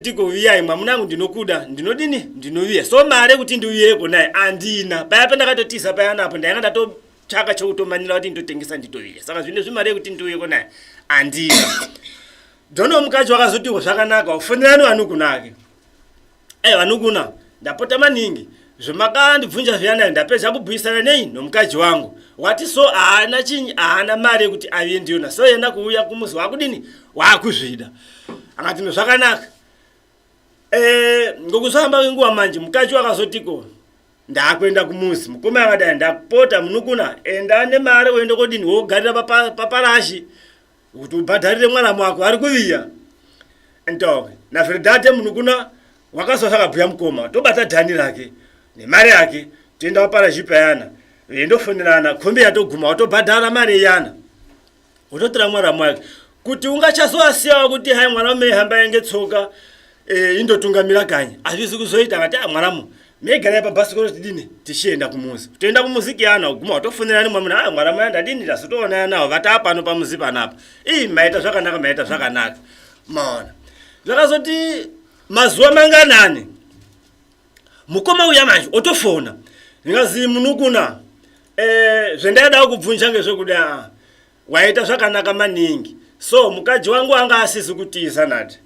ndigoviyai mwamuna angu ndinokuda ndinodini ndinoviya so mari yekuti ndiuyeko naye andina paya pandakatotiza paya napo ndainga ndatotsvaka chekutomanira kuti nditotengesa nditoviya saka zvine zvimari yekuti ndiuyeko naye andina dono mukadzi wakazotiwo zvakanaka ufonerani vanukuna ake e vanukuna ndapota maningi zvemakandibvunja zviyana ndapedza kubhuisana nei nomukadzi wangu wati so haana chinyi haana mari yekuti aviye ndiyona so yenda kuuya kumuzi wakudini wakuzvida akati no zvakanaka eh, ngokuzvamba kwenguva manje mukadzi wakazotiko ndakuenda kumuzi mukoma akadai ndapota munukuna enda nemari uende kodini wogarira paparashi pa, pa, kuti ubhadharire mwana mwako ari kuviya ntoke navhiridhate munhu kuna wakaso sakabhuya mukoma tobata dhani rake nemari yake toenda paparazhipa yana vendofonerana khombi yatoguma watobhadhara mari yana wototora mwana mwake kuti ungachasoasiyawo kuti hai mwana umeihamba yange tsoka Eh, indotungamira kanyi hazvizi kuzoita ngati ah, mwana mu megarai pabhasikoro tidini tichienda kumuzi toenda kumuzi kiyana uguma watofonera nimwe munhu ah mwana maya ndadini ndazotoonana nawo vataa pano pamuzi panapa ii maita zvakanaka maita zvakanaka maona zvakazoti mazuva manganani mukoma uya manje otofona ndingazi munukuna eh, zvendaida kubvunja ngezvekuda waita zvakanaka maningi so mukadzi wangu anga asizi kutiza nati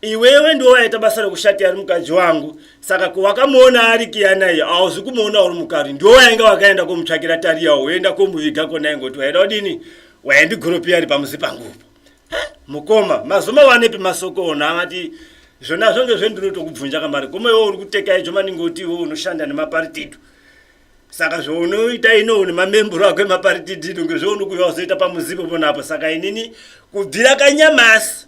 iwewe ndiwo waita basa rekushati ari mukadzi wangu saka kuwakamuona ari kiyana iyo hauzi kumuona uri mukari ndiwo wainge wakaenda komutsvakira tariya woenda komuviga kona ingoti waida kudini waindigoropiya ari pamuzi pangupo mukoma mazoma wanepi masoko ona amati zvona zvonge zvendinotokubvunja kamari koma iwo uri kuteka icho maningi oti iwo unoshanda nemaparitidu saka zvounoita ino une mamemburo ako emaparitidu inonge zvounokuya wazoita pamuzipo ponapo saka inini kubvira kanyamasi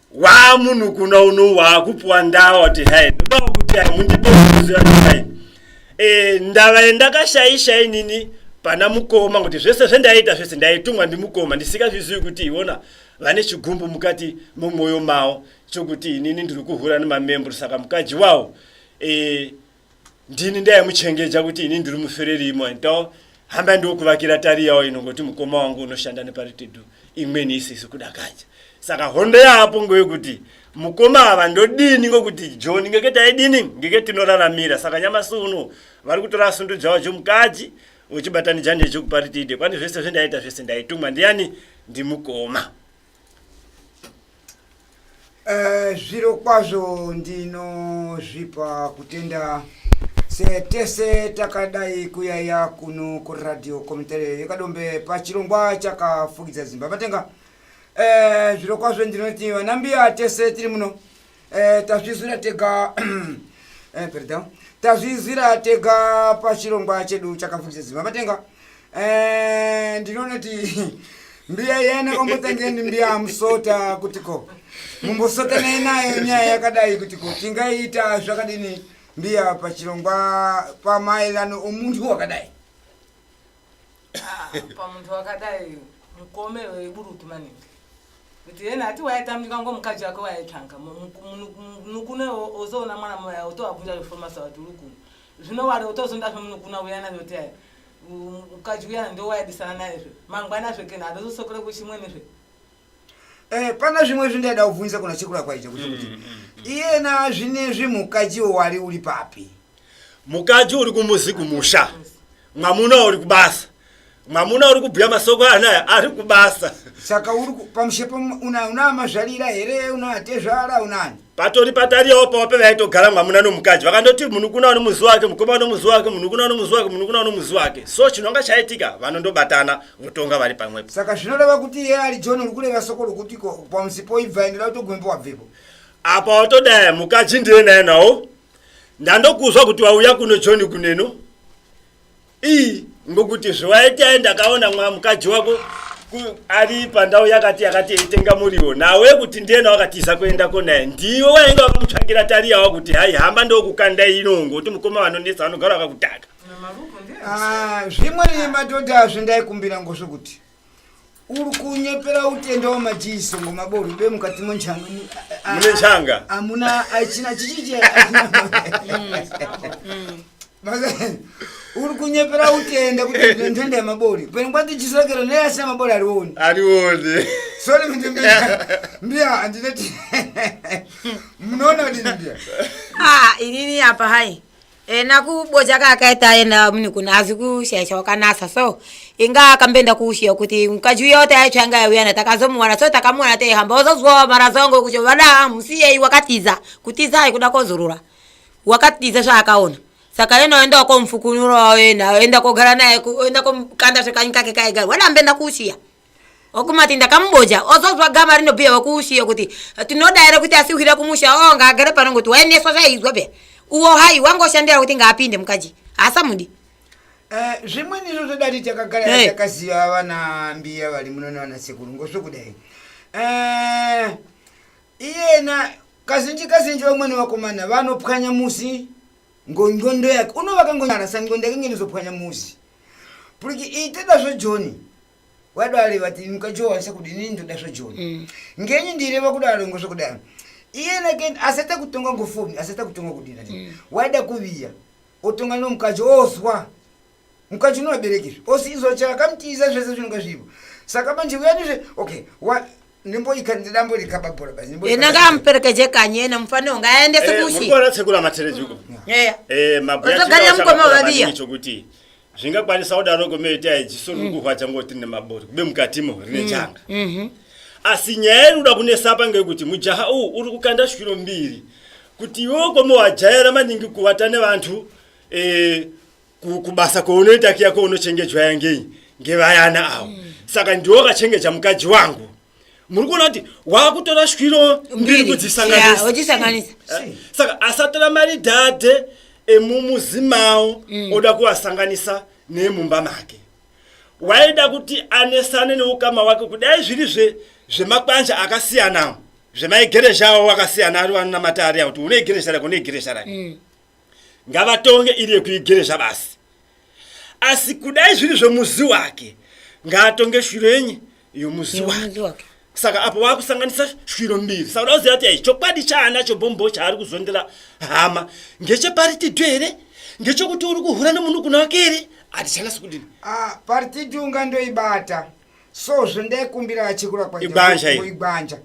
waa munhu kuna uno waakupuwa ndawa kuti hai ndodawo kuti hai mundibeai e, ndava yendakashaisha inini pana mukoma kuti zvese zvendaita zvese ndaitumwa ndimukoma ndisikazvizivi kuti iona vane chigumbu mukati mumwoyo mavo chokuti inini ndiri kuhura nemamembro saka mukadzi wawo e, ndini ndaimuchengeja kuti ini ndiri mufereri imwe ndo hamba ndokuvakira tari yawo inongoti mukoma wangu unoshanda neparitedu imweni isizi kudakadza saka hondo yaapo ngoyekuti mukoma ava ndodini ngokuti john ngeke taidini ngeke tinoraramira saka nyamasi uno vari kutora asundu dzavo dzomukadzi uchibatanija ndechokuparitide kwani zvese zvendaita zvese ndaitumwa ndiani ndimukoma Eh, zviro kwazvo ndinozvipa kutenda setese takadai kuyaiya kuno kuradio komitere yekadombe pachirongwa chakafukidza zimba matenga eh, zviro kwazvo ndinoti vanambiya tese tiri muno eh, tazvizwira tega eh, perdão tazvizwira tega pachirongwa chedu chakafungisa zima matenga eh, ndinoona kuti mbiya yena kwambotangeni mbiya amusota kuti ko mumbosota naye nayo nyaya yakadai kuti ko tingaita zvakadini mbiya pachirongwa pamaererano omuntu wakadai Ah, pamuntu wakadai mukome weburutu maningi kuti yena ati waitamika ngo mukadzi wake waitanga munukune ozoona mwana moya otowabvunja zvofomasa wati uri kuno zvino wari otozondazve munukuna uyana zvoti aya mukadzi uyana ndo waidisana naye zve mangwana zve kena adozosokere kuchimweni zve Eh, pana zvimwe zvindaida kubvunza kuna sekuru akwaita kuti kuti mm, mm, mm. iyena zvinezvi mukaji wari uri papi mukaji uri kumuzi kumusha mwamuna uri kubasa mwamuna uri kubhuya masoko anaya ari kubasa saka uri pamushepo una mazvarira here una tezvara unani patori patariyawo pavo pevaitogara mwamuna nomukadzi vakandoti munhu kuna ano muzi wake mukoma ano muzi wake munhu kuna ano muzi wake munhu kuna ano muzi wake so chinonga chaitika vanondobatana votonga vari pamwepo saka zvinoreva kuti iye ari john uri kureva soko rokuti ko pamusi poibva endera utogumembo wabvepo apa watodaya mukadzi ndiye naye nawo ndandokuzwa kuti wauya kuno john kuneno ii ngokuti zviwaitai ndakaona mwa mukadzi wako ari pandau yakati yakati eitenga muriwo nawe kuti ndiyena wakatiza kuendako naye ndiwe wainge wakamutsvagira tariyawa kuti hai hamba ndokukanda ino ngoti mukoma vanonetsa vanogara vakakutaka ah, zvimwe nemadhodha azvindaikumbira ngozvokuti uri kunyepera utenda wamajiso ngomaboru be mukati monjanga mune njanga amuna achina chichije uri kunyepera utenda kuti ndine ntenda yemabori pene kwati jiso rakero neyasi yamabori arioni arione sori kuti mbiya mbiya handineti munoona kuti mbiya Ah, inini apa hai ena kuboja kaakaita aenda muni kuno hazi kushaisha wakanasa so inga akamboenda kuushiya kuti mukadzi uya wati aitsva anga yauya na takazomuwana so takamuwana teihamba wazozwa mara zangu kuti vada musiyei wakatiza kutiza aikuda kozorora wakatiza zvaakaona saka yena waenda wakomfukunura waenda waenda kogara naye ku- waenda komkanda zvekanyi kake kaigara wada amboenda kuushiya okumati ndakamubodya ozonzwa gama rinobhiya wakuushiyo kuti tinoda here kuti asiwira kumusha o ngaagare pano ngoti waendeswa zvaizwa pya uwo hai wangoshandira kuti ngaapinde mukaji hasamudi eh, zvimweni izvo zvodati takagara hey. takaziva vana mbiya vari muno navana sekuru ngozvokudai eh, iyena kazhinji kazhinji vamweni vakomana vanopwanya musi ngongondo yake unovakangonyarasa ngondo yake ngenizopwanya musi puliki ite dasvo joni wadare vati mukajowanisa kudi ini ndoda zvo joni mm. ngenyi ndireva kudaro ngo zvokudaro iye nake asata kutonga ngo foni asata kutonga kudira mm. waida kuviya otonga no mukaji ozwa mukaji unovaberekizve osi izwa chakamutiza zvese zvinonga zvivo saka manje vuyandizve okay wa, ena ngaamuperekeje kanye ena mufaniro ngaaendese eh, kushitsekura matereji uko ozogarira eh, mukoma vaviya chokuti zvingakwanisa kudaro komeita ijiso riri kurwadza ngoti rine mabori kube mukatimo rine mm. changa mhm. asi nyaya iri kuda kunesa pa ngekuti mujaha uwu uri kukanda shwiro mbiri kuti iwe ukomowajaira maningi kuvata nevantu eh, kubasa kwaunoita kiya kwaunochengetwa yangei ngevayana awo mm. saka ndiwo akachengeja mukadzi wangu muri kuona kuti wakutora shwiro mbiri kudzisanganisauchisanganisa eh, saka asatora mari dhadhe emumuzi mawo mm. oda kuvasanganisa nemumba make waida kuti anesane neukama wake kudai zviri zve zvemakwanja akasiyanawo zvemaigeresha awo akasiyana ari vanonamata ariya kuti une igeresha rake une igeresha rake mm. ngavatonge iri yekuigere zvabasi asi kudai zviri zvemuzi wake ngaatonge shwiro yenye yomuzi wake saka apo vakusanganisa shwiro mbiri saka udakuziva kuti ai chokwadi chaanacho bhombo chaari kuzondera hama ngecheparitidu here ngechokuti uri kuhura nemunhu kuna wake here hatichanasi kudini ah, paritidu unga ndoibata so zvendaikumbira achikura kwaibanja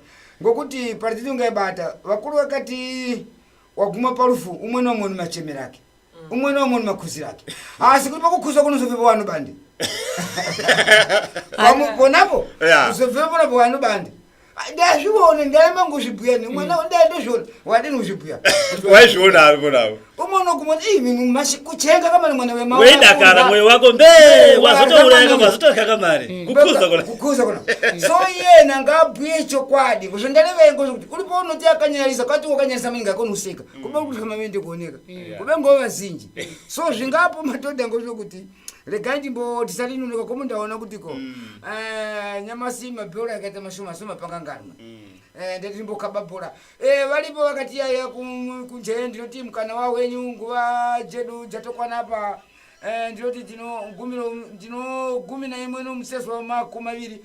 ngokuti paritidu ungaibata vakuru vakati waguma parufu umwe naumwe nemachemero ake mm. umwe naumwe nemakhuziro ake asi kuti pakukhuza kunozobvepo wani bandi ponapo uzobvepo ponapo wani bandi ndazvione ndaema nguzvibhuya nemwana mm. ndandozviona wadini kuzvibhuya waizviona ari kunavo umono kumona kuchenga kamari mwana wemaweidakara mwoyo wako mbe wazotouraya kamari zotorya kamari mm. kukuza kona kukuza kona so yena ngabhuye chokwadi kuzvo ndareveko kuti kuri paunoti akanyarisa kati wakanyarisa mainga akonoseka mm. kuba kuti kama vende kuoneka kube ngo vazinji so zvingapo matoda ngozvo kuti regai ndimbo tisati noneka komo ndaona kuti ko mm. eh, nyamasi mabhora akaita mashoma soma pakanganwa mm. eh, ndati ndimbokaba bhora eh, varipo vakati yaya kunjee ndinoti mukana wa wenyu nguva jedu jatokwana pa ndinoti ndinogumi naimwe nomuseswa makumi maviri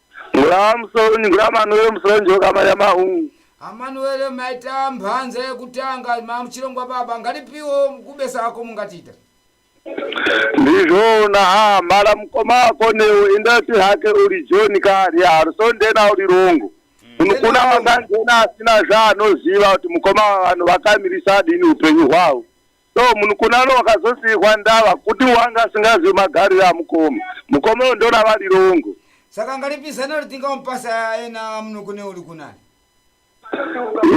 Ngura musoni, ngura manuwele musoni joka manya mahu. amanuele maita mhanza yekutanga mamuchirongwa baba ngalipiwo kubesa ako mungatiita Ndizvona ha mala mukoma wako newo indati hake uri John kari harusondena uri rongo. Munhu kuna wakangena asina zvaanoziva kuti mukoma vanhu vakamirisa adini upenyu hwavo. so munhu kunano wakazosiyirwa ndava kuti wanga asingazivi magariro amukoma mukoma uyo ndona vari rongo saka ngalipizana ritinga umpasa ayena munhu kune uri kunani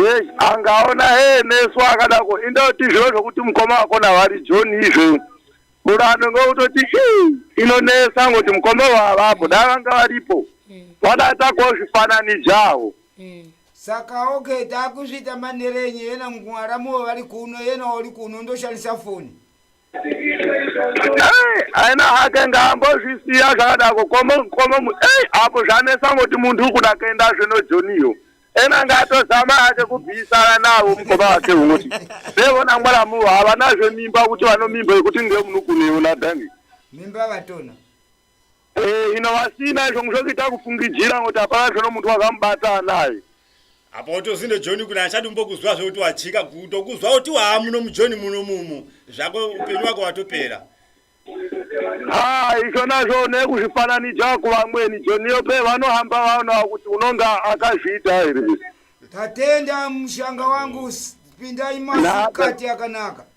yes angaona hee nesu akadako indoti zviro zvokuti mukoma wako navari john izvo murando ngokutoti ii inonesa ngoti mukoma wavapo dai vanga varipo vana takozvifananijawo saka okay takuzviita manhere enye yena mwaramuwo vari kuno yena uri kuno ndoshandisa foni aina hake ngaambozvisiya zvakadako komokomo ei apo zvanesa ngoti munhu uri kuda kuenda zvino joniyo ena ngatozama hake kubvisana navo mukoma wake unoti sevona mwaramuwo havanazve mimba kuti vanomimba yekuti ngemunukuneona dani mimba vatona Eh, ino vasina izvo mushokita kufungidzira kuti hapana zvono muntu wakamubata anaye apa utozinde john kuna achadi mbokuzwa zvekuti wajika kutokuzwa kuti waa muno mujohn muno mumu zvako upenyu wako watopera ha izvo nazvo nekuzvifananidza kuvamweni joniyo pe vanohamba vaonawa kuti unonga akazviita here tatenda mushanga wangu s- pindai masikati akanaka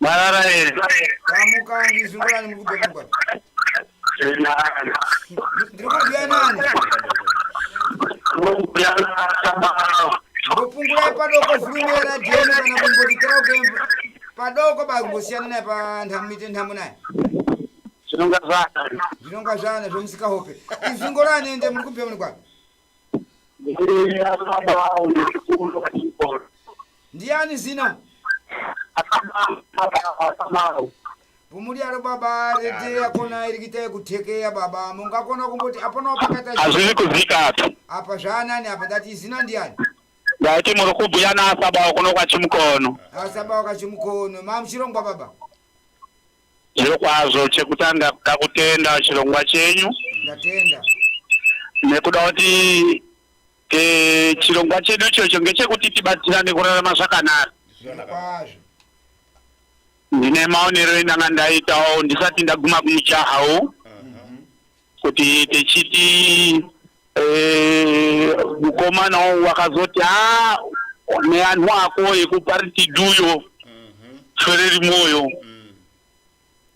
Marara here. Mamukangi zvingorani muri kubva kungwani. Zvinani. Ndiri kubhuya nani. Ndokubhuya naSabao. Ndopungurai padoko vhurumi yeradhiyo kana kumbodikira kemba. Padoko bakumbosiyana naye panhamo ite nhamo naye. Zvinonga zvana. Zvinonga zvana zvomusika hope. Izvingorani ende muri kubhuya muri kwani. Ndiani zina? Pumudyaro baba rete yakona iri kuita yekuthekeya baba mungakona kumboti apana wapakata zina. hazvisi kuzika apa apa zvaanani apa ndati zina ndiani ndati muri kubhuya naasaba kuno kwachimukono asaba wakachimukono mamuchirongwa baba Zviro kwazvo chekutanga kuda kutenda chirongwa chenyu. Ndatenda. Nekuda kuti e, chirongwa chedu ichocho ngechekuti tibatsirane kurarama zvakanaka. Zviro kwazvo. Ndine maonero endanga ndaitawo ndisati ndaguma kumujahawo. kuti tichiti eh, mukomana e, wakazoti ha neanhu ako ekuparitiduyo mhm. swereri mwoyo mm.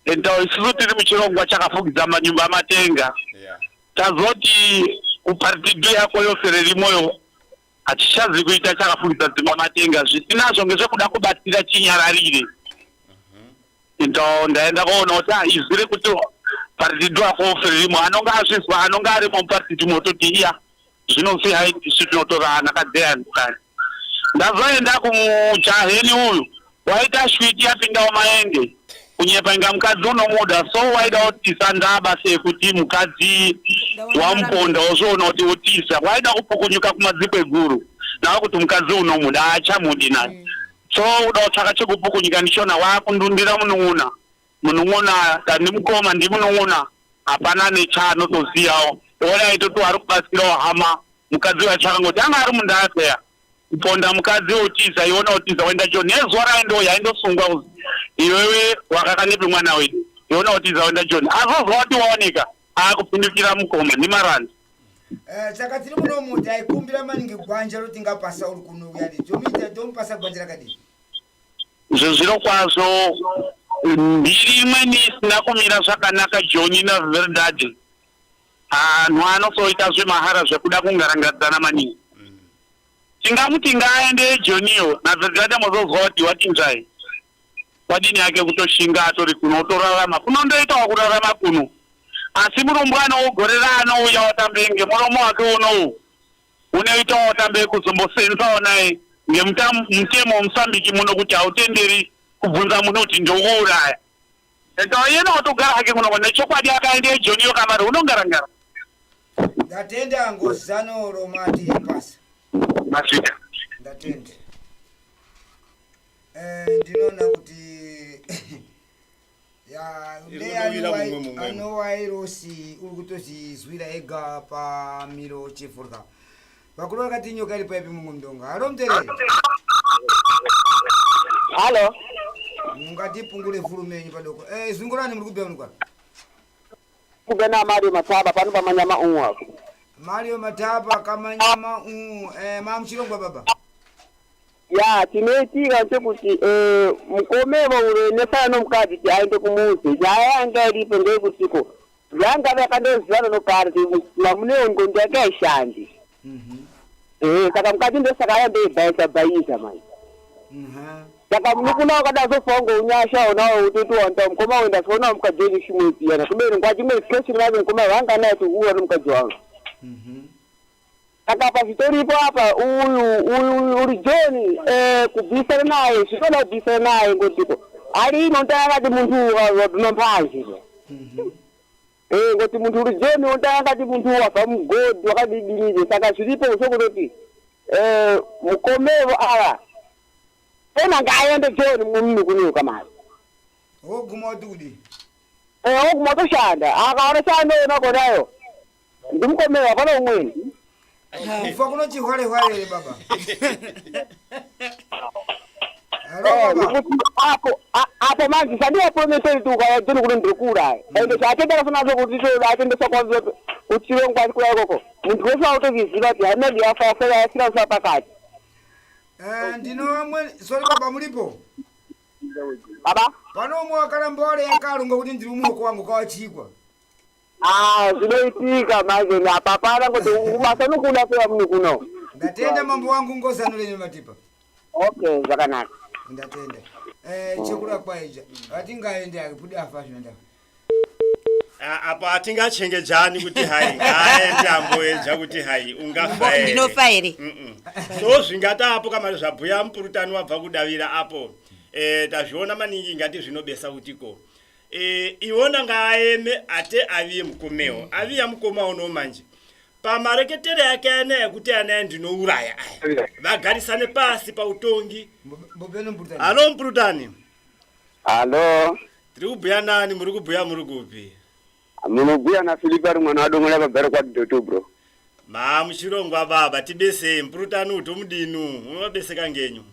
and uh, isusu tiri muchirongwa chakafugidza manyumba amatenga tazoti kuparitidu yako yofereri mwoyo Hatichazi kuita chakafungisa dzimba matenga zvisinazvo ngezvekuda kubatsira chinyararire. Ndo ndaenda koona kuti ah, izwi rekuti paridhidu ako rimwe anonga azvizwa anonga arimo muparidhidu mototi iya zvinonzi haitisu tinotora anakadzeya ndikani. Ndazoenda kumujaheni uyu Waita shwiti yapindawo maende kunyepa inga mukadzi unomuda so waida kutisa ndaba sekuti mukadzi wamuponda wozviona kuti utisa waida kupukunyuka kumadziko eguru nawo kuti mukadzi unomuda haachamudi naye mm. so uda kutsvaka chekupukunyuka ndichona wakundundira munun'una munun'una ndimukoma ndimunun'una hapana nechaanotoziyawo oona aitoti wari kubatsirawo hama mukadzi waitsvaka ngoti anga ari mundaya peya kuponda mukadzi otiza iona otiza wenda jo nezuva raendo yaindosungwa uzi iwewe wakakanepi mwana wedu iona otiza wenda joni azozwa wati waoneka akupindukira mukoma nemarandi Eh, saka tiri muno muti aikumbira maningi gwanja roti ngapasa uri kunouya ndi tomuita tomupasa gwanja rakadini izvo zviro kwazvo mbiri imweni isina kumira zvakanaka joni naveridadi anhu anosoita zvemahara zvekuda kungarangadzana maningi tingamuti ngaaende jonio nazadzata mozozwa kuti watinzvai wadini yake kutoshinga atori kuno otorarama kuno ndoitawa kurarama kuno asi murumbwana wogorera anouya watambe ngemuromo wake unowu unoitawa watambe kuzombosenzawo naye ngemutemo wemusambiki muno kuti hautenderi kubvunza munhu kuti ndokuuraya Enda yena watogara hake kuno nechokwadi akaenda ejoni yo kamari unongarangara. Ndatenda ngozano romati pasa. Masvika. Ndatenda. Eh ndinoona kuti ya ndeyani anowa irosi uri kutozizwira ega pamiro chifurwa. Vakuru vakati nyoka iri paipi mumwe mdongo. Halo mterere. Halo. Mungati pungule vhuru menyu padoko. Eh, zvingurani muri kubya munikwa. Kubena Mario Mataba pano pamanyama umwe apo. Mario Mataba kamanyama umwe. Eh, mamu chirongwa baba. ya tinoitika chekuti eh, mukomero ure nefana nomukadzi ti aende kumuzi nyaya yanga iripo ndeyekutiko yanga vakandozivana noparty mamuneo ndxondo yake haishandi Mhm. Eh, saka mukati ndosaka aya ndoibhaisa bhaisa manje Aha. saka munukuna wakadazofa unge unyasha onawo utoti wanda mukoma wenda soona mukadzi wenyu chimwe piyana kubeni ngwati imwe situation vave mukoma vanga naye tikuona mukadzi wangu Mhm. Saka pachitoripo apa uyu uyu uri John eh, kubvisana naye zvinoda kubvisana naye ngotiko ari inotanga akati muntu wabvima mphanje Eh, ngoti muntu uri John unotanga akati muntu wabva mugodhi wakadidinije saka zviripo zvokunoti eh, mukomevo ava ena ngaaende John mumni kunyuka mari woguma wati kudii Eh, oguma otoshanda akaona chaanoona konayo Ndimkomera hapana umweni. Kufa kuno chihwale hwale here baba? Hello Eh, baba. nekuti apo a- apo manje sandiwa promiseri kuti ukauya dzini kuno ndikuuraya. Ende chaatenda kasina zvo kuti choda atendesa kwanza kuti chive ngwani kuya ikoko. Muntu wese autokiziva kuti haina ndiyafa yafa yasina kusa pakati. Eh, ndino vamwe sorry baba mulipo. Baba? Pano umwe wakaramba wale yakalunga kuti ndiri umwe wako wangu kawachikwa. Ah, zvinoitika manje apa hapana kuti basa nokuda peya muno kuno. ndatenda mambo wangu ngozano lenyu matipa Okay, zvakanaka. ndatenda eh, chekura kwaija atingaende akipudi afa zvinoenda Ah, apa hatingachengejani kuti hai aende amboedza kuti hai ungafa here. ndinofa here Mm-mm. so zvingata apo kamari zvabhuya mupurutani wabva kudavira apo eh, tazviona maningi ingati zvinobesa kutiko e, iwona ngaaeme ate aviye mukomewo mm. aviya mukoma uno manje pamareketere ake ana yekuti anaye ndinouraya aya vagarisane pasi pautongi halo mprutani halo tiri kubhuya nani muri kubhuya muri kupi munobhuya nafilipi ari mwana wadongola vagare kwadoto bro maa muchirongwa baba tibesei mprutani utomudinu unovabeseka ngenyu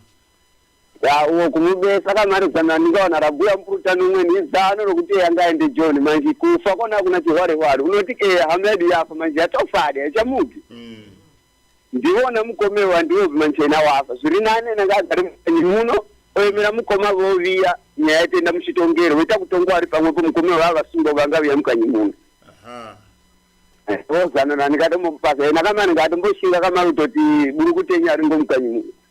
Ya uwo kumube saka mari zana ndingaona rabuya mpuruta nomwe ni zano rokuti eya ngaende John manje kufa kona kuna chihware hware unoti eya hama yedu yafa manje yatofade yachamuki Mm. ndiwona mukome wandiwo manchena wafa zviri nane nanga agari mukanyi muno oyemera mukoma voviya nyaya yatenda muchitongero voita kutongwa ari pamwepo mukome wava vasungwa vanga viya mukanyi muno Aha. vozanana ndikatomupasa ena kamani ngatomboshinga kamari kutoti buri kutenya ringo mukanyi muno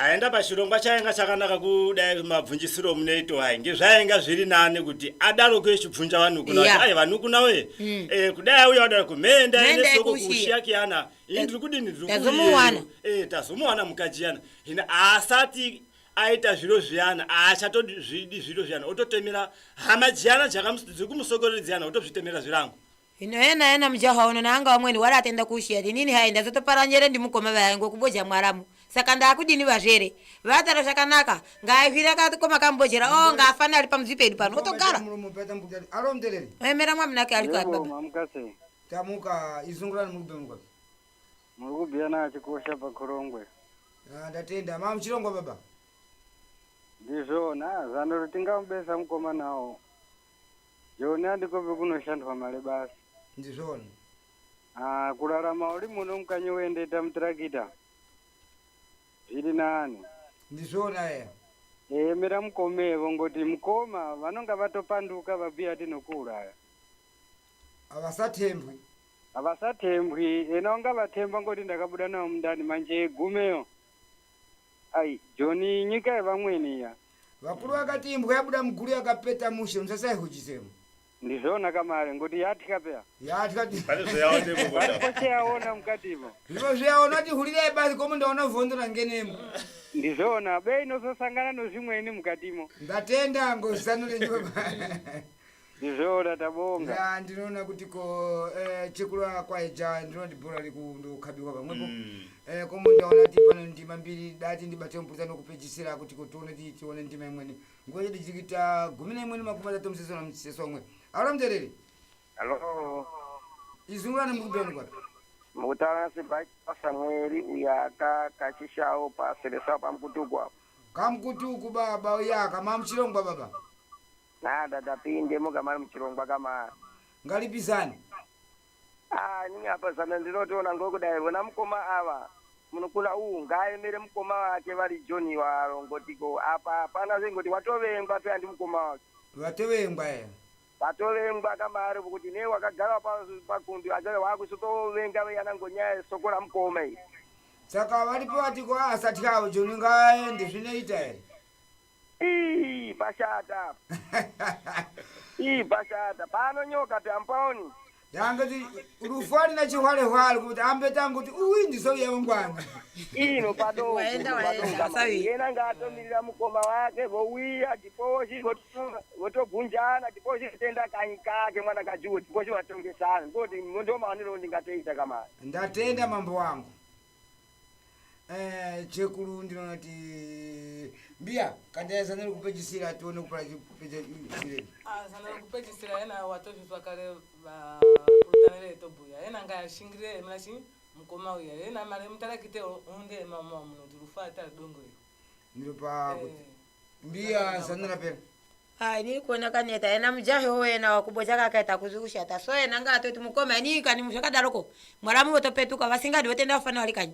aenda pachirongwa chainga chakanaka kudai mabvunjisiro munoito hai ngezvainga zviri nani kuti adaro kuechibvunja vanukuna yeah. ai vanukuna we mm. eh, kudai auya wadaro kumenda ene soko kushiya kiyana ini ndiri kudini ndiri tazomuwana eh, tazomuwana mukadzi yana hina asati aita zviro zviyana aachatozvidi zviro zviyana ototemera hama dziyana dziri kumusokorera dziyana otozvitemera zvirango Hino yena yena mujaha uno naanga wamweni wari atenda kuushiya ndinini hai ndazotopara njere ndimukoma vaye ngokuboja mwaramu saka ndaakudini vazvere vatara zvakanaka ngaahwira kakoma kambojera o ngaafane ari pamudzi pedu pano otogara emera mwamunake ari kuabaamukasei tamuka izungurani muri kubira mukati muri kubira naachikosha pakhorongwe ah, ndatenda ma muchirongwa baba ndizvona zano tingambesa mukoma nawo Joni handiko vekunoshandwa mari basi. Ndizvoni. Ah, kurarama uri muno mukanyi uendeta mutirakita. Zviri nani. Ndizvona eya. Eh, mira mukome vongoti mukoma vanonga vatopanduka vabhuya tinokuuraya. Havasatembwi. Havasatembwi, ena ungavatemba ngoti ndakabuda nawo mundani manje gumeyo. Ai, Joni nyika yevamweni iya. Vakuru vakati imbwa yabuda muguru yakapeta mushe musasaihujisemo. Ndizvona kamare ngoti yatya peya. Yatya ti. Pane zvayaona ipo Pane kota. kose yaona mukati ipo. Zvimwe zvayaona kuti hulirai basi komo ndaona vhondo rangenemo. Ndizvona bei inososangana nozvimweni mukatimo. Ndatenda ngozano renyu baba. Ndizvona tabonga. Ya ndinoona kuti ko eh, chekurwa kwaija ndinoti bhora rikundokhabirwa pamwepo. Mm. Eh, komo ndaona kuti pane ndima mbiri dati ndibate mupurisa nokupedzisira kuti ko tione kuti tione ndima imweni. Nguva yedu tiri kuita gumi neimwe nemakumi matatu museswa namuseswa umwe. Aura mutereri. Hello. Izungulani muri kubva nokwapi? Mukutana sibaki pasamweri uyaka kachishawo paselesa pamkutukwa. Kamkutuku baba uyaka mamuchirongwa baba. Nada tapinde mukamari muchirongwa kamari. Ngalipizane. Ah, ini apa zana ndinotoona ngokudai vona mukoma ava munokuna uwu ngaaemere mukoma wake vari John waro ngotiko apa hapana zvengoti watovengwa peya ndi mukoma wake. Vatovengwa eya. Vatovengwa kamari vokuti nei wakagara pa pakundi achave wakusotovenga veyana ngonyaya yesoko ramukoma iri. Saka varipo vatiko asatyawo John ngaaende zvinoita here. Ii, pashata ii pashata pano nyoka tampaoni yangati rufwani na chihwalehwale kuti ambe tangu kuti uyi ndizouya wangwana ino padoko Waenda, waenda, padoko. asavi. yena ngaatomirira mukoma wake vouya tiposhi voto- votogunjana tiposhi kutenda kanyi kake mwana kajuwo tiposhi vatongesana ndoti ndomaonero ndingatoita kamari ndatenda mambo wangu Eh, chekuru ndinoona kuti mbiya kandaya zana rekupedzisira tione kupara chipedzisirei Ah, zana rekupedzisira yena watozvinzwa kare vakurutana veetobhuya yena ngashingire mna chi mukoma uya yena mari mutarakite hunde mama munoti rufa atari dongo iro ndinopa kuti Eh, mbiya zanura pera Hai ni kuona kaneta yena mujahi wo yena wakubo chakakaita kuzi kushata so yena nga atoti mukoma ni kani muzvakadaroko mwaramu votopetuka vasingadi votenda kufana wali kanyi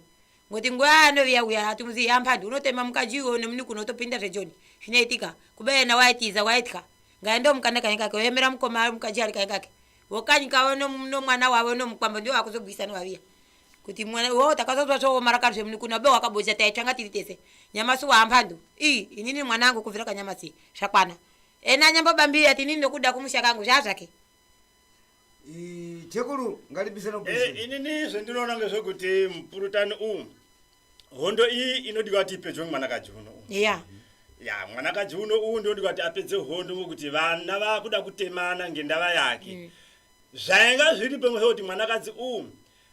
ngoti nguva yanoviya uya ati muzi yampandi unotema mukaji iwe unemuni kuno utopinda zvejoni zvinoitika kube yena waitiza waitya ngaende omukanda kanyi kake oyemera mukoma mukaji ali kanyi kake vokanyi kavo no- nomwana wavo nomukwambo ndiwo akuzogwisa nowaviya kuti mwana wo takazozwa zvoomara kari zvemunikuna ube wakabocha taitsvanga tiri tese nyamasi wahampandu i inini mwana angu kubvira kanyamasi zvakwana ena anyambobambira ati inini nokuda kumusha kangu zvaa zvake chekuru ngalibisana Eh, kukushira inini zvendinoona ngezvekuti mupurutani uwu hondo iyi inodiwa kuti ipedzwe mwanakadzi uno uwu. ya ya mwanakadzi uno uwu ndinodiwa kuti apedze hondo ngokuti vana vakuda kutemana ngendava yake Zvainga zviri pemwoyo kuti mwanakadzi uyu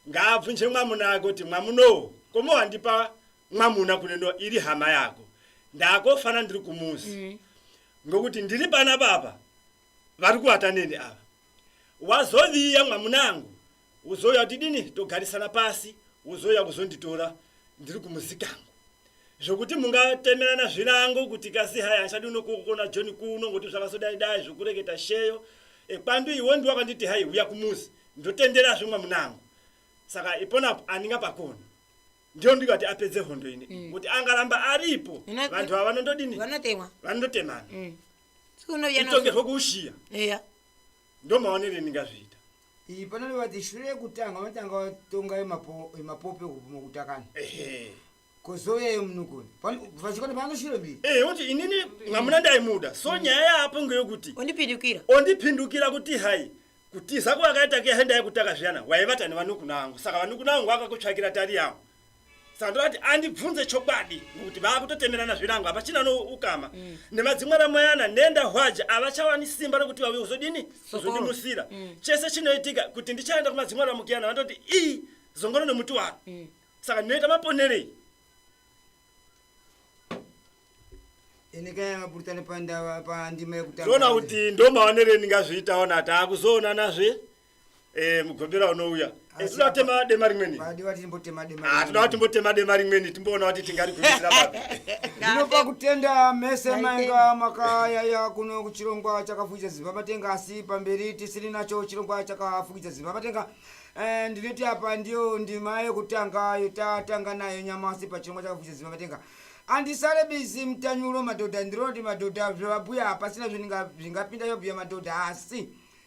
ngaabvunje mwamuna wake kuti mwamunowo komowandipa mwamuna kuneno iri hama yako ndakofana ndiri kumuzi mm. ngokuti ndiri pana baba vari kuvata neni ava wazoviya mwamunangu uzouya kuti dini togarisana pasi uzouya kuzonditora ndiri kumuzikangu Zvokuti mungatemerana zvirango kuti kasi hai hanchadi unokokona John kuno ngokuti zvakasodai dai zvokureketa sheyo ekwandu iwe ndiwe wakanditi hai huya kumuzi ndotendera zve mwamunangu saka ipona apo andinga pakoni ndiyo ndikati apedze hondo ine mm. kuti angaramba aripo vantu ava vanondodini vanotemwa vanondotemana mm. itongerwo kuushiya yeah. ndomaonere ndingazviita Iyi panoreva kuti shure yekutanga vanotanga vatonga yemapo- yemapope kupuma kutakana Ehe. kozouya yemunukuni vachikona vanoshure mbiri Eh, kuti inini mwamuna ndaimuda so nyaya yaapo ngeyokuti ondipindukira ondipindukira kuti hai kutiza kwakaita kuyahenda yekutaka zviyana waivata nevanukuna angu saka vanukuna angu akakutsvakira tari yangu sando ati andibvunze chokwadi ngokuti vaakutotemerana zvirango hapachina no ukama mm. nemadzimwe ramoyana nenda hwaja havachawani simba rokuti vauye kuzodini kuzondimusira mm. chese chinoitika kuti ndichaenda kumadzimwe ramukiyana vandoti ii zongoro nomuti waro mm. saka ndinoita maponerei inikayamapurutano pandava pandima yekutaaona kuti ndomaonerei ndingazviitaona ati akuzoonanazve Eh, mugombera unouya eh, toda kutema dema rimweni ah, toda kuti timbotema dema rimweni timboona kuti tingarigumisira papi ndinopa kutenda mese mainga makayaya kuno kuchirongwa chakafukidza zimba matenga asi pamberi tisiri nacho chirongwa chakafukidza zimba matenga eh, ndinoti apa ndiyo ndima yekutanga yotatanga nayo nyamasi pachirongwa chakafukidza zimba matenga andisare bizi mutanyuro madhodha ndironoti madhodha zvevabhuya hapasina zvingapinda yobhuya madhodha asi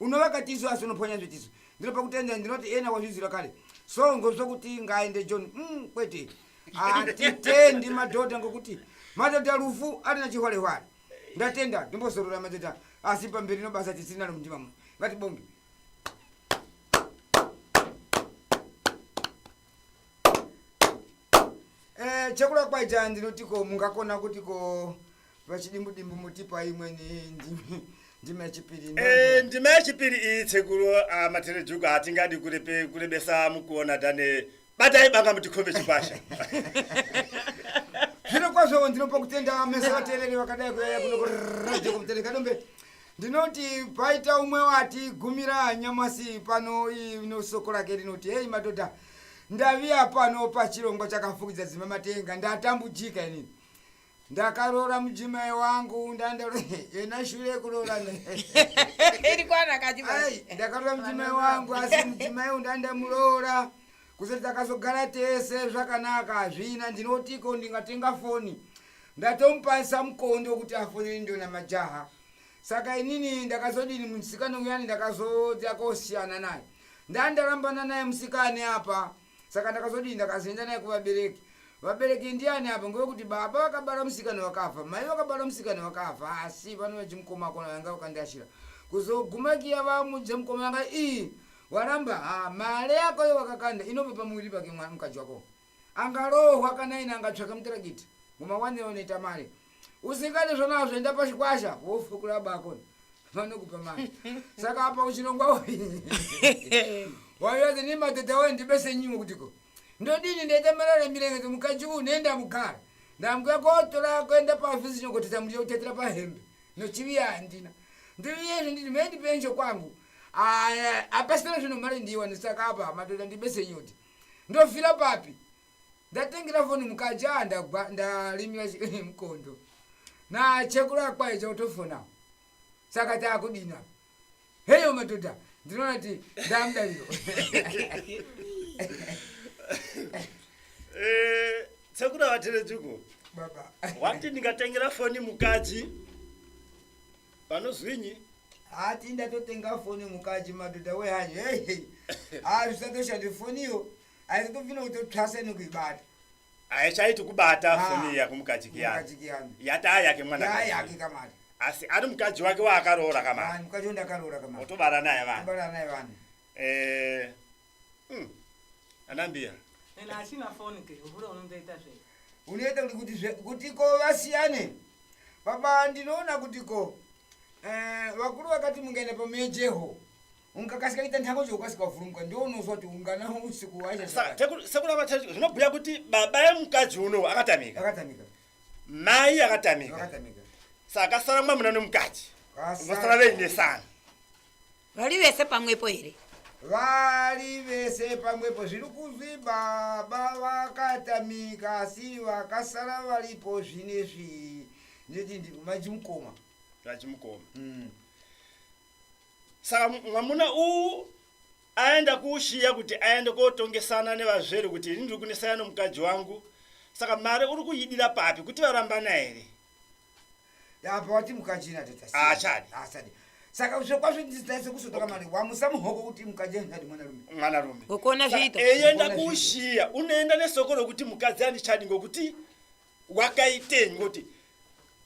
unovaka tisu asi unoponya zvetisu ndinopa kutenda ndinoti ena wazviziva kare so ngozva kuti ngaende john mm, kwete hatitendi madhodha ngokuti madhodha rufu arina chihwarehware ndatenda ndimbozorora madhodha asi pamberi nobasa tisinalo mundima muno ngatibonge Eh, chekula kwaita ndinoti ko mungakona kuti ko vachidimbu dimbu mutipa imweni ndimi ndimi yechipiri. Eh, ndima yechipiri iyi tsekuru ah, materejuku hatingadi kurepe kurebesa mukuona dane batai banga mutikombe chikwasha Zvino kwazvo ndinopa kutenda mese vatereri vakadai kuyaya kuno kurajeko mutereri kadombe. ndinoti paita umwe wati gumira nyamasi pano ino soko rake rinoti heyi madhodha ndaviya pano pachirongwa chakafukidza dzima matenga ndatambujika inini ndakaroora mujimai wangu ndandayena shure kuroorana ndakaroora mujimai wangu asi mujimai u ndandamuroora kusati takazogara tese zvakanaka hazvina ndinotiko ndingatenga foni ndatomupasa mukondo kuti afonere ndona majaha saka inini ndakazodini musikana uyani ndakazodya kosiyana naye ndani ndarambana naye musikane apa saka ndakazodini ndakazoenda naye kuvabereki vabereki ndiani apa ngevekuti baba vakabara musikana wakafa mai vakabara musikana wakafa asi vano vachimukoma akona vanga vakandiashira kuzoguma kiya vamudze mukoma vanga ii waramba ha mare yako yo wakakanda inobva pamuviri pake mwana mukadzi wako angarohwa kana ine angatsvaka mutaragiti mumawanire unoita mari usingade zvanazvo enda pachikwasha wofukura bako vanokupa mari saka apa uchirongwa wayoze ni madhodha wayo ndibese nyimo kutiko ndodini ndaita marara mirengete mukadzi uyu nenda mugara ndambuya kotora kuenda pavhisi nyokoteta muriya kutetera pahembe nochiviya handina ndiviyezvo nditi mendi penjo kwangu apasina zvinhu mari ndiwa ndisaka apa madhodha ndibese nyoti Ndofira papi? Ndatengera foni mukadzi aa ndagwa ndalimira mukondo. Na chekuru akwaye chotofona. Saka taakudina. Heyo madhodha ndinoona kuti ndamudariro. Eh, sekuru avaterejuko. Baba. Wati ndingatengera foni mukadzi panozwinyi haa ti ndatotenga foni mukaji madhodha wehanyi hehe haa zvisatoshande foniyo aizotobvina kutotwasa nekuibata haichaiti kubata Ah, foni iya kumukadzi kiyani mukadzi kiyani. yataa yake mwana yaya yake kamari asi ari mukadzi wake waakaroora kamari vanhu mukadzi wandakaroora kamari otobara naye vanhu kubara naye vanhu Eh, Hmm. Anambiya. Ena asina phone ke, uvule unondoita zve. Unoita kuti kuti zve kuti ko vasiyane. Baba ndinoona kuti ko eh vakuru vakati mungaenda pamejeho. Unkakasika kuita ntango zvokasika kuvhurumuka ndiwo unozwa kuti ungana usiku waisha. Saka sekula vacha zvinobhuya kuti baba yemukadzi uno akatamika. Akatamika. Mai akatamika. Akatamika. Saka sara mwamuna nomukadzi. Vasara veinesana. Vari vese pamwepo here? Vari vese pamwepo zviri kuzwi baba vakatamika asi vakasara varipo zvine zvi neti ndimajimukoma. Zvachimukoma. Mm. Saka mu- mwamuna uwu aenda kuushiya kuti aende kotongesana nevazvere kuti ini ndiri kunesana nomukadzi wangu. Saka mari uri kuidira papi kuti varambana here? apa wati mukachina tatasiachadi ah, asadi saka zvekwazvo ndizitaise kusotoka mari wamusa muhoko kuti mukadzi andichadi mwanarume mwanarume ukuona zviita eyenda kuushiya unoenda nesoko rokuti mukadzi andichadi ngokuti wakaitei ngoti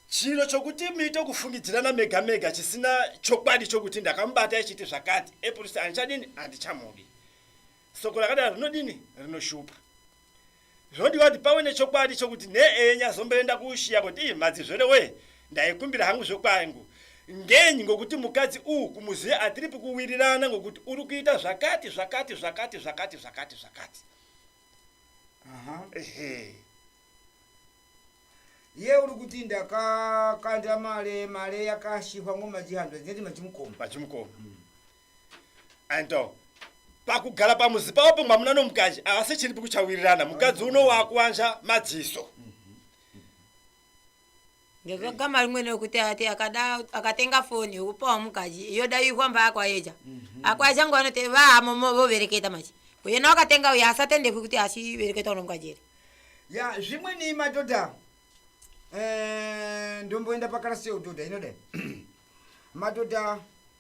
chiro chokuti muite kufungidzirana mega mega chisina chokwadi chokuti ndakamubata ichiti zvakati eprisi andichadini handichamudi soko rakadaro rinodini rinoshupa Zvodiwa kuti pawe nechokwadi chokuti neeye nyazomboenda kuushiya kuti ii madzizvere wee ndaikumbira hangu zvekwangu. Ngenyi ngokuti mukadzi uu kumuziya atiripi kuwirirana ngokuti uri kuita zvakati zvakati zvakati zvakati zvakati zvakati. Aha. Ehe. Ye uri kuti ndakakanda mare mare yakashihwa ngomajihanzwa dzineti majimukoma. Majimukoma. Anto, pakugara pamuzi pavo pomwe hamuna nomukadzi havasi chiripi kuchawirirana mukadzi uno wakuwanza madziso ndiko gama rimwene rekuti ati akada akatenga foni yokupawo mukadzi yoda ikwamba akwayeja akwayeja ngo anoti vahamomo vovereketa manje uyena wakatenga uye asatendekwi kuti achivereketa uno mukadzi here ya zvimweni madhodha eh, ndomboenda pakarasi yeudhodha inodai madhodha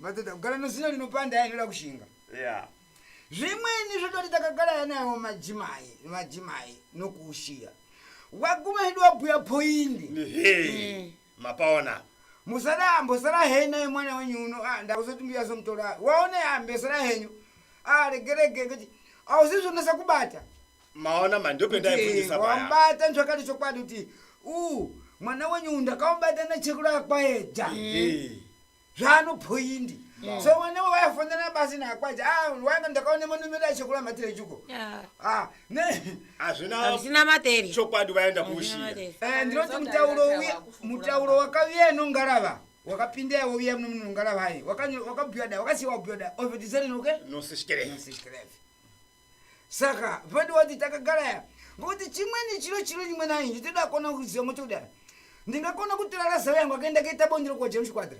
Madhodha kugara nozino rinopanda aya inoda kushinga. Yeah. Zvimweni zvototi takagara yanawo majimai, majimai nokuushiya. Waguma hedu wabhuya point. Hey. Mapaona. Musada ambosara hena yemwana wenyu uno. Ah ndakuzoti mbuya somutora. Waone ambesara henyu. Ah regerege kuti ausizvonesa kubata. Maona mandopenda ifundisa baya. Wambata nzvakati chokwadi kuti u mwana wenyu ndakaubata nechekura kwaeja. Hey. zvano point mm. so mwana wayafonana basi nakwaja ah, wanga ndakaona manomero achekula matere chuko ah, hazvina matere chokwadi vaenda kuushiya eh, ndinoti mutauro uye mutauro wakaviya inongarava wakapinda yavo viya muno munongarava ayi wakabhuya da wakasiya wabhuya da ovetiserinokenosekereve saka vadi wati takagaraya ngokuti chimweni chiro chiro nyimwe nayi nditoda kona kuziva motodara ndingakona kutora razawe yangu akaenda kaita bondiro kwa james kwadra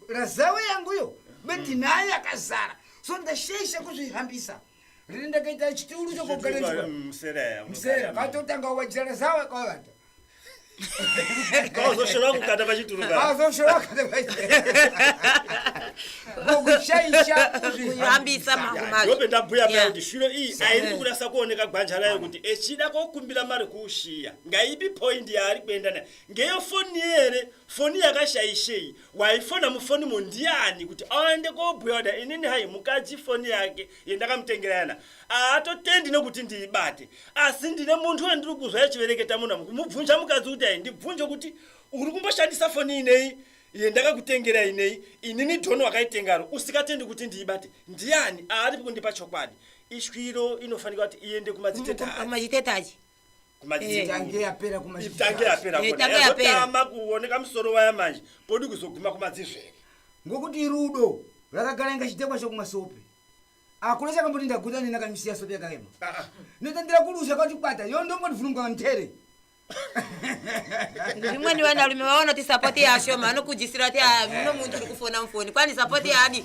razawe yangu yo beti mm. nayo yakazara so ndashaisha kuzvihambisa riri ndakaita chituru chokogaramsera mm, katotanga wajira razawe kwavata Kawazoshora kukata pachituru ka. Kawazoshora kukata pachituru. Ngokushaisha kuyambisa mambo mazvo. Ndope ndabhuya yeah. kuti shuro iyi airi kurasa kuoneka gwanja rayo kuti echida kokumbira mari kuushiya. Ngaipi point yaari kuenda nayo. Ngeyo foni here? Foni yakashaishei? Waifona mufoni mondiani kuti aende kobhuya kuti inini hai mukadzi foni yake yendakamutengera yana haatotendi nekuti ndiibate asi ndine munhu wandiri kuzwa yachivereketa munhu kumubvunja mukadzi kuti ai ndibvunje kuti uri kumboshandisa foni inei yendakakutengera inei inini dhoni wakaitengaro usikatendi kuti ndiibate ndiani aaripi kundipa chokwadi ishwiro inofanika kuti iende kumadzitetaamadzitetaji kumadzitange yapera kumatange yapera kotama kuoneka musoro waya manje kodi kuzoguma kumadzizvere ngokuti rudo rakagara inga chidhekwa chokumasope akuna chakamboti ndaguta nina kamisiya sope yakaema ah, ah. notandira kulusha kwati kwata yo ndombondivhunungwa mtere ndimweni vanarume vaona kuti sapoti yaashoma anokujisira kuti ah, muno muntu uri kufona mufoni kwani sapoti yaadi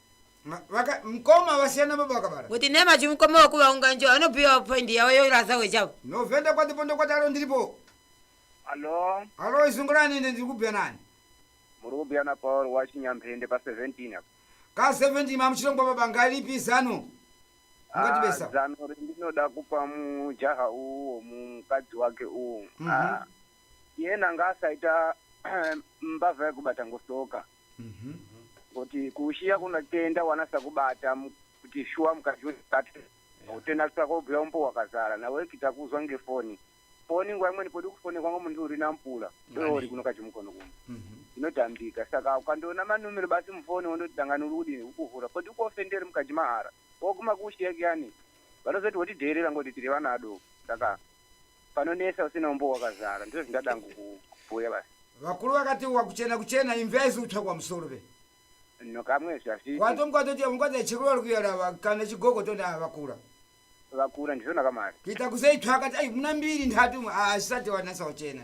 mkoma vasiyana baba vakabara kuti nema chimkoma wakuvaunga njo anopiwa point yavo yorasa wechavo novhenda kwatipo ndokwatalo ndiripo alo alo izungurani ine ndiri kubhuya nani muri kubhuya na paul wachinyamphende pa 17 apo ka 17 mamuchirongwa baba ngalipi zano ungatibesa ah, zano rindinoda kupa mujaha uwo mukadzi wake uwo mm -hmm. ah, yena ngaasaita mbavha yekubata ngosoka mm -hmm. Mhm. kuti kuushiya kunotenda wanasa kubata mu- kuti shuwa mukadzi wekati utenda kusaka ubhuya umbo wakazara nawe kita kuzwa ngefoni foni nguva imweni podi kufone kwangu munhu uri nampula ndoori kuno kachimukono kuno Mhm. inotambika saka ukandiona manumero basi mufoni wondoti dangani uri kudini ukuvhura podi kuofenderi mukadzi mahara Ko kumakushi yake yani vanozoti wotidheerera ngoti tiri vana adoko saka panonetsa usina umbo wakazara ndizvo zvindada hangu kubhuya basi vakuru vakati wakuchena kuchena imvya isi utsva kwamusoro ve no kamwe zvazviti kwatomkwatoti vangwadza chikurori kuyarava kana chigogo tona ava vakura vakura ndizvona kamari kuita kuzei tsva akati ai muna mbiri nhatu imwe asisati wanasa kuchena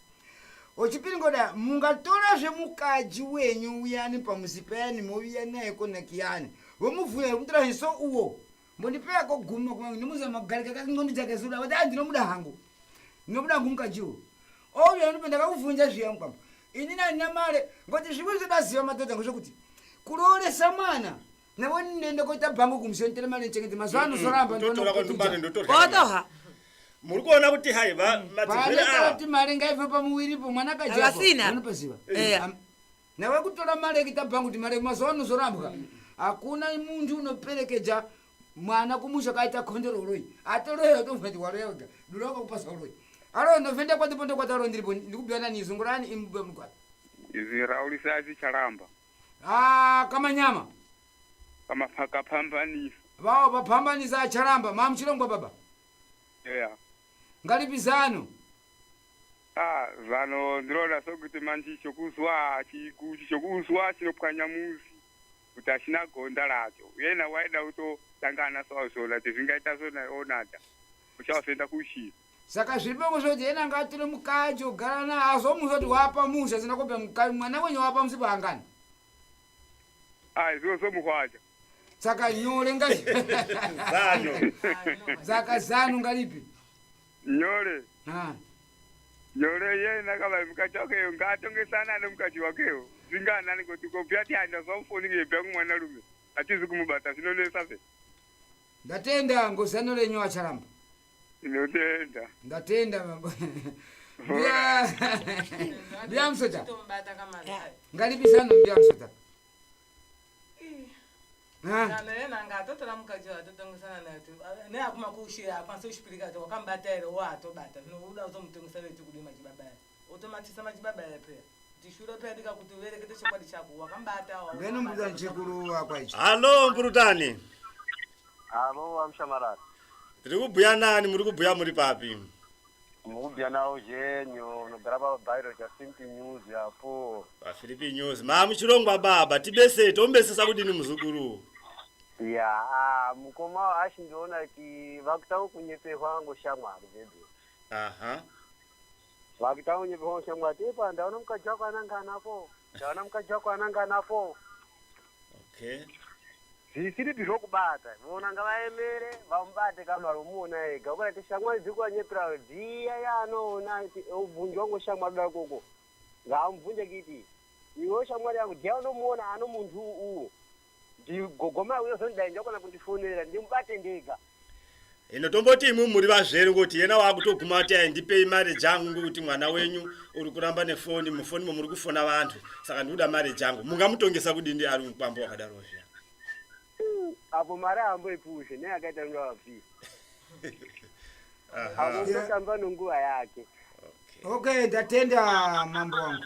Ochipiri ngoda mungatora zvemukaji wenyu uyani pamuzi payani moviya naye konakiyani vomuvhuya vekutora hiso uwo mbondipeya koguma kuma ndimuza magarika kakingondi dzake zuda vati ah ndinomuda hangu ndinomuda hangu mukaji uwo ouya ndipo ndakakuvhunja zviya mukwambo ini nandina mare ngoti zvimwe zvodaziva madhodha ngozvokuti kurooresa mwana navo ndenda koita bhango kumuseni tele mali nchekete mazuva ano zoramba ndotora kwa tumbane ndotora otoha muri kuona kuti hai va mm. madzivira awa kuti mali ngaive pamuwiri po mwana kaja vasina unopaziva eh. eh nawe kutora mali kita bhango kuti mali mazuva ano zorambwa mm. hakuna muntu unoperekeja mwana kumusha kaita khondero uroi atoroya utomva kuti waroya uda dura ukakupasa uroi aro ndovenda kwati ponde kwati aro ndiripo ndikubiyana nizungurani imubwe mugwati izvi raulisa achicharamba Ah, kamanyama kama pakapambanisa vawo vapambanisa acharamba mamuchirongwa baba yeah. ngaripi zano ah, zano ndinoona sokuti manje chokuzwa chikuchi chokuzwa chinopwanya muzi kuti achina gonda racho yena waida kutotangana sawazvona kuti zvingaita zvonaonada uchazoenda kuchii saka zviri pamwe zvoti yena ngaatore mukadzi ogara naye azomuudza kuti wapa muzi asina kupa mukadzi mwana wenyu wapa musi paangani ai zvozomuhwaja saka nyore ngati Zano. saka zano ngaripi nyore Ah. nyore yena kava mukadzi wakeyo ngaatongesana ane mukadzi wakeyo zvinganani kuti kopya ti andazamufoni ngeyebya kumwana rume atizi kumubata zvinonesa se ndatenda ngozano renyu acharamba Ndinotenda. Ndatenda baba. Ndiya ndiya msota. Tomubata kama zai. Ngalipi zano ndiya msota. Ha? Kana yena nga atotora mukadzi wayo atotongesana naye kuti ah, ne akuma kushira akwanisa kushipirika kuti wakambata here wo atobata zvino uda kuzomutongesana kuti kudii machibaba ere. Otomatisa machibaba aya peya. Ndishure peya ndikakuti uverekete chokwadi chako. Wakambata awa. Mbeno mbuda nchikuru wakwa ichi. Hallo mprutani. Hallo amshamarara. Tiri kubhuya nani muri kubhuya muri papi? Mubya nawo zhenyo unogara pa Bairo cha Simpi News yapo. Pa Philippi News. Ma muchirongwa baba tibese tombesesa kudini muzukuru. Ya, ah, mukoma ashi ndiona ki vakutanga kunyeperwa ngoshamwari vedu. Aha. Vakuita unyepe wangu shamwari. Tepa ndaona mukadzi wako anangana apo. Ndaona mukadzi wako anangana apo. Okay. Zvisiripi zvokubata. Vona ngavaemere vamubate kamari umuona ega. Ukarati shamwari dziri kuwanyepera dziya yaanoona ati ubvunji wangu shamwari daro koko. Ngaamubvunje kiti. Iwe shamwari yangu dziya unomuona ano muntu uwu. Gogo mauya zoni dai ndakona kundifonera ndimubate ndega. Ino tomboti imwe muri vazvere ngoti yena wakutoguma ati aindipei mari jangu ngokuti mwana wenyu uri kuramba nefoni mufoni momuri kufona vantu saka ndikuda mari jangu mungamutongesa kudindi ari mukwambo wakadaro zviya apo mari aamboipushe ne akaita nge vapi apo tamba nonguva yake okay ndatenda mambo wangu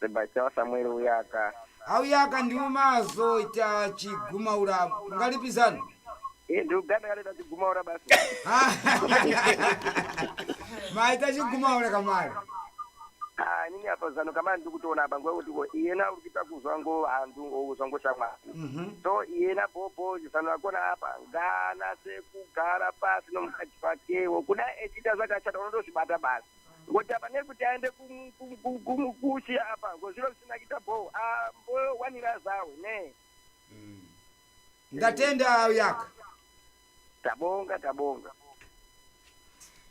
Sebastião Samuel uyaka. Auyaka ndiwo maazoita chigumaura ungalipi zanu? Iye ndi Uganda akatoita chigumaura basi. Maita chigumaura kamari. Ah, inini apa zanu kamari ndiri kutoona apa nguva yekuti ko iyena uri kuita kuzwa ngo vanhu or kuzwa ngo shamwari. Mhm. So iyena bhobho zano rakona apa ngaanase kugara pasi nomukadzi wakewo. Kudai echiita zvakashata unotozvibata basi. ngokuti apa nekuti aende kum- kum- kum- kum- kushi apa ngozviro zvisina kuita bho ambowanira zawe ne ndatenda uyaka tabonga tabonga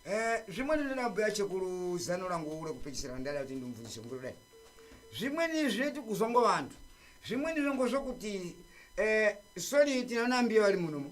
Eh, zvimweni ndinabhuya chekuru zano rangu ure kupedzisira ndada kuti ndimubvunzise mukuru dai zvimweni zvinoti kuzwa ngo vantu zvimweni zvango zvokuti eh, sori tinanambiya vari munomo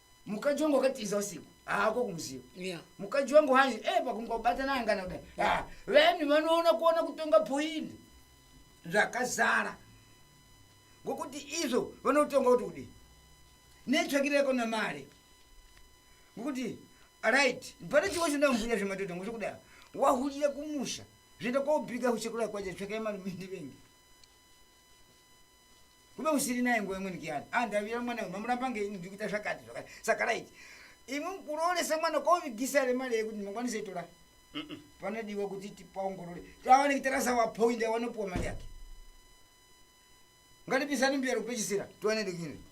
mukadzi wangu wakatiza usiku haako kumuziva yeah. mukadzi wangu hanzi e eh, pakungobatana angana kudai yeah. vanhu vanoona kuona kutonga poindi zvakazara ngokuti izvo vanotonga kuti kudii netsvakireko namari ngokuti right pane chimwe chindamubuya zvematoto ngo chokudai wahulira kumusha zvoenda kwaubika kuchekura kwacho tsvakai mari mindivengi kuve usiri naye nguva imweni kiyani a ah, ndavira mwana uyu mamuramba ngei ndiri kuita zvakati zvakati saka raiti imwe kurooresa mwana kovigisa re mari yekuti ndimangwanise itora panodiwa kuti tipaongorore tawaneki tarasa wapoindi awanopiwa mari yake ngatipisani mbiyaro kupechisira tiwane ndikini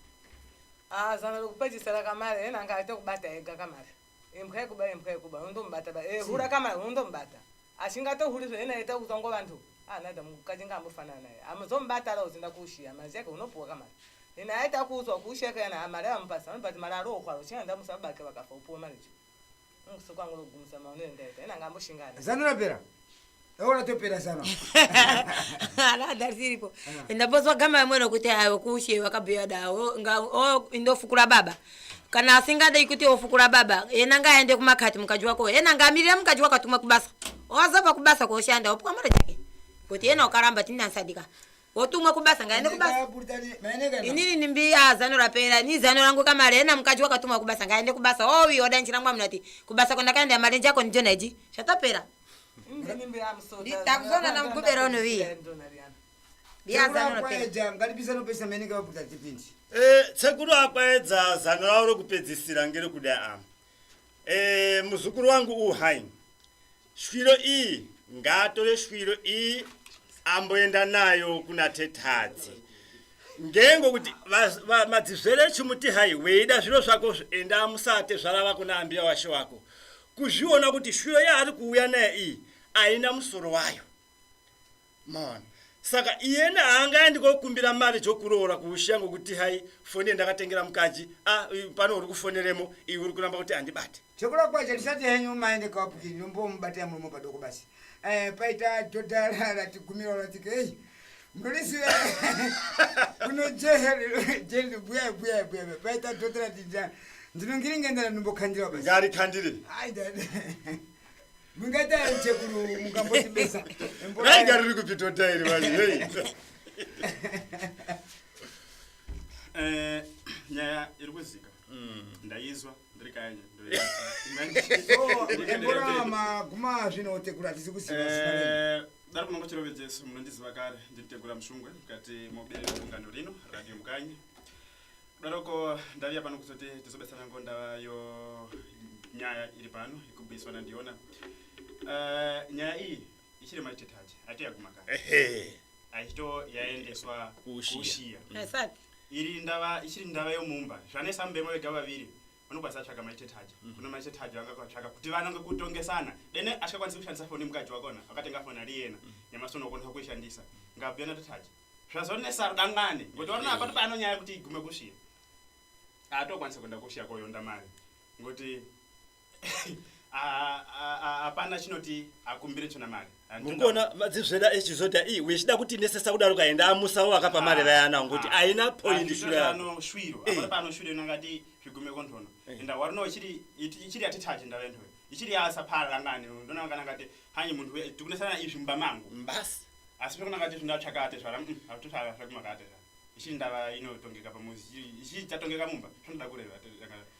ah, zano rekupechisira kamari enanga aite kubata ega kamari Imbwa yekuba imbwa yekuba undomubata ba. Eh hura kama undomubata. Ashinga to huri zvena yeta kuzongo vantu. Ah nada mukajinga ambofanana naye. Amuzomubata ra uzinda kushia mazi yake unopuwa kama. Ina aita kuzwa kushia kana amara ah, amupasa anobati mara aro kwaro china ndamu sabake bakafa upuwa mari. Ngusokwa ngoro gumsa maono enda ita. Ina ngambo shingana. Zanura pera. Eona topera zano. Ala darsiripo. Eh. Ndabozwa gama yamwena kuti ayo kushe wakabuya dawo nga o indofukura baba. Kana asingade ikuti ofukura baba, yena nga aende kumakati mukaji wako. Yena nga amirira mukaji wako atumwe kubasa. Owazova kubasa koshanda opwa mara jake. Kuti yena okaramba tindansadika. wotumwa kubasa ngaende kubasa inini nimbi ah, zano rapera ni zano rangu kamare ena mukadzi wakatumwa kubasa ngaende kubasa owi oh, odanjira mwa munati kubasa kwandakaenda marenje ako ndijonaji shatapera ndakuzona namugubera unoviya tsekuru akwaedza zano ravo rokupedzisira ngere kuda ama eh, muzukuru wangu uhain shwiro iyi ngaatore shwiro iyi amboenda nayo kuna tetadzi ngengo kuti madzizvere chimuti hai weida zviro zvako enda musate zvarava kuna ambiya washe wako kuzviona kuti shwiro yaari kuuya nayo iyi haina musoro wayo maona saka iyena haanga aendi kokumbira mari dzokuroora kuushiya ngokuti hai foni yendakatengera mukadzi a pano uri kufoneremo iwe uri kuramba kuti handibate chekurokwacho ndisati henyu maende kawapukiri nombomubatira muromo padoko basi Eh, paita dhodha rati gumiro rati kei ndoriziva kuno jeheri buya buya buya paita dhodha rati ndinongiri ngendana ndimbokhandira basi ngari khandire ai dada mungati ari chekuru mukamboti besa rai ngari riri kupi dhodha iri vanhu hei eh, nyaya iri kuzika mm. ndaizwa daro kunongo chirovedzesu munondiziva kare ndiritegura musungwe mukati moberero gungano rino radio mukanyi kudaroko ndaviya pano kuzoti tizobetsera ngo ndava yo nyaya iri pano ikubiswa nandiona eh, nyaya iyi ichiri machitetachi ati yaguma kare ehe achito yaendeswa Kuushiya. kuushiya Haisati. iri ndava ichiri ndava yomumba zvanesa mubema vega vaviri vanokwanisa tsvaka machitetachi kuno machitetachi vanga kwatsvaka kuti vanonge kutongesana dene asikakwanisi kushandisa foni mukadzi wakona akatenga foni ari yena nemasono okwanisa kuishandisa ngabuyana tetachi zvazonesa rudangani ngokuti varona apato paanonyaya kuti igume kushiya atokwanisa kuenda kushiya koyonda mari ngokuti hapana chinoti akumbire chona mari mukuona madzizveda echizoti ii wechida kuti nesesa kudaro kaenda amusawo vakapa ah, mari vayana ngokuti ah, aina pointianoshwiroanoshwiroangati zvigume kondhono eh. enda warino ichiri yatitaje ndava ndoyo ichiri yasapara ngani ndona kana ngati hanyi munhu tikunesana izvi mumba mangu basi asi pekuna ngati zvindatsvakate zvara mm, akutotsvakakumakate ichiri ndava inotongeka pamuzi ichiri tatongeka mumba zvinoda kureva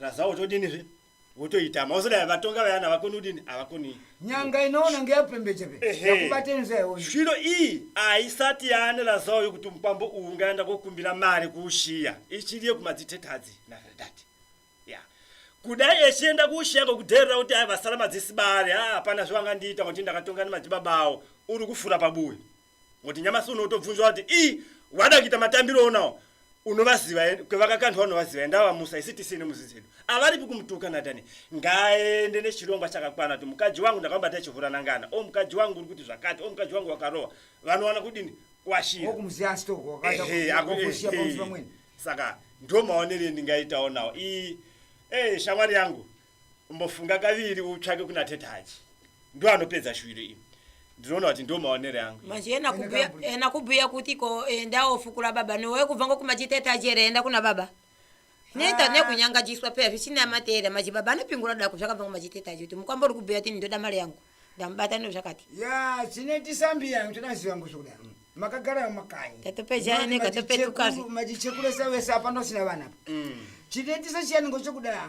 Razawo todini zve? Wotoita mauso dai vatonga vayana vakoni udini avakoni. Nyanga inoona ngeyapembeje pe. Ehe. Yakubateni zve iwe. Zvino iyi aisati yaane Razawo yokuti mupambo uwu ngaenda kokumbira mari kuushiya. Ichiri yekumadzitetadzi na Veridati. Ya. Kudai echienda kuushiya ngokudherera kuti aivasara madzisibare, haa hapana zvavangandiita ngokuti ndakatonga nemadzibaba awo. Uri kufura pabuwe. Ngokuti nyamasi uno utobvunzwa kuti ii wada kuita matambiro onawo unovaziva eh, kwevakakandwa unovaziva enda vamusa isi tisi nemuzi dzedu avaripi kumutuka natani ngaende nechirongwa chakakwana kuti mukadzi wangu ndakamubata chivhura nangana o mukadzi wangu uri kuti zvakati o mukadzi wangu wakarowa vanowana kudini kwashira saka ndomaonero endingaitawo nawo ii e shamwari yangu Umbofunga kaviri utsvake kuna tete Haji. Ndo anopedza shuviro iyi. Ndinoona kuti ndo maonere angu. Manje ena kubhuya ena kubhuya kuti ko enda ofukura baba nowe kubva ngokuma chitete Haji here enda kuna baba. Neta nekunyangajiswa peya zvisina matera maji baba anopingura dako zvakabva ngoma chitete Haji kuti mukwambo uri kubhuya kuti ndoda mari yangu. Ndamubata no zvakati. Ya chineti sambi yangu tinaziva ngosho kuda. Makagara mumakanyi. Tatopejana neka topetukazi. Majichekuresa wese apa ndosina vana. Mm. Chinetisa chiyani ngochokuda.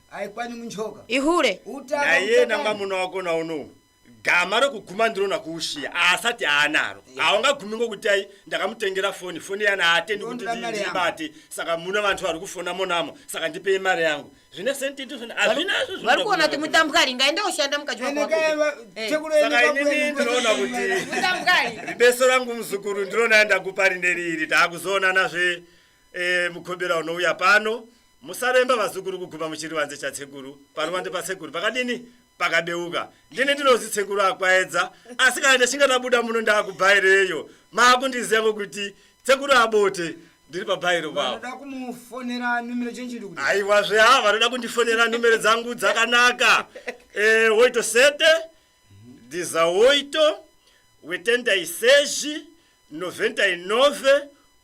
aikwani munjoka ihure nayena mwamuna wako nauno gama rokuguma ndinona kuushiya aasati aanaro haungagumi ngokuti ai ndakamutengera foni foni yana haatendi kuti ndibate saka muna vantu vari kufona monamo saka ndipei mari yangu zvine sentizvinazvari kuona kuti mutambwari ngaenda ushanda mukadyiwaaakainini eh. ndinoona kuti ribeso rangu muzukuru ndinona ndakupa rine riiri taakuzoonanazve Eh, mukombera unouya pano musaremba vazukuru kuguma muchirivanze chatsekuru paruvanze pasekuru pakadini pakadeuka ndini ndinozi tsekuru akwaedza asi kana ndichinge ndabuda muno ndaakubhaireyo maakundiziva ngokuti tsekuru abote ndiri pabhairo pavo aiwa zve ha vanoda kundifonera numero dzangu dzakanaka e, oito sete dizaoito wetenda iseji noventa inove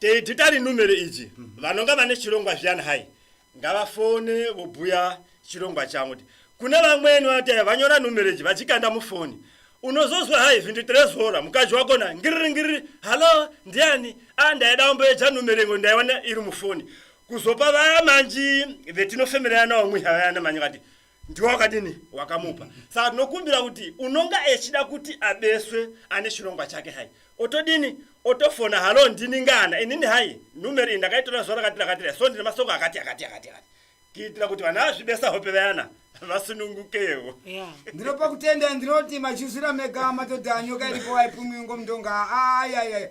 Tedhitari numero idzi vanonga vane chirongwa zviyani hai ngavafone vobhuya chirongwa chavo kuti kune vamweni vanoti hai vanyora numero idzi vadzikanda mufoni unozozwa hai vhindu tirezora mukadzi wako na ngiriri ngiriri halo ndiani a ndaida wamboedza numero ingo ndaiwana iri mufoni kuzopa vaya manji vetinofemerera nawo mwiha vayana manyi vati ndiwo wakadini wakamupa saka tinokumbira kuti unonga echida kuti abeswe ane chirongwa chake hai otodini otofona halo ndini ngana inini hai numero iyi ndakaitora zuva rakati rakatira so ndine masoko akati akati akati akati kuitira kuti vana vazvibesa hope vayana vasunungukewo Yeah. ndinopa kutenda ndinoti machuzira mega matodha nyoka iripo aipumwiwi ngomudonga ayayaya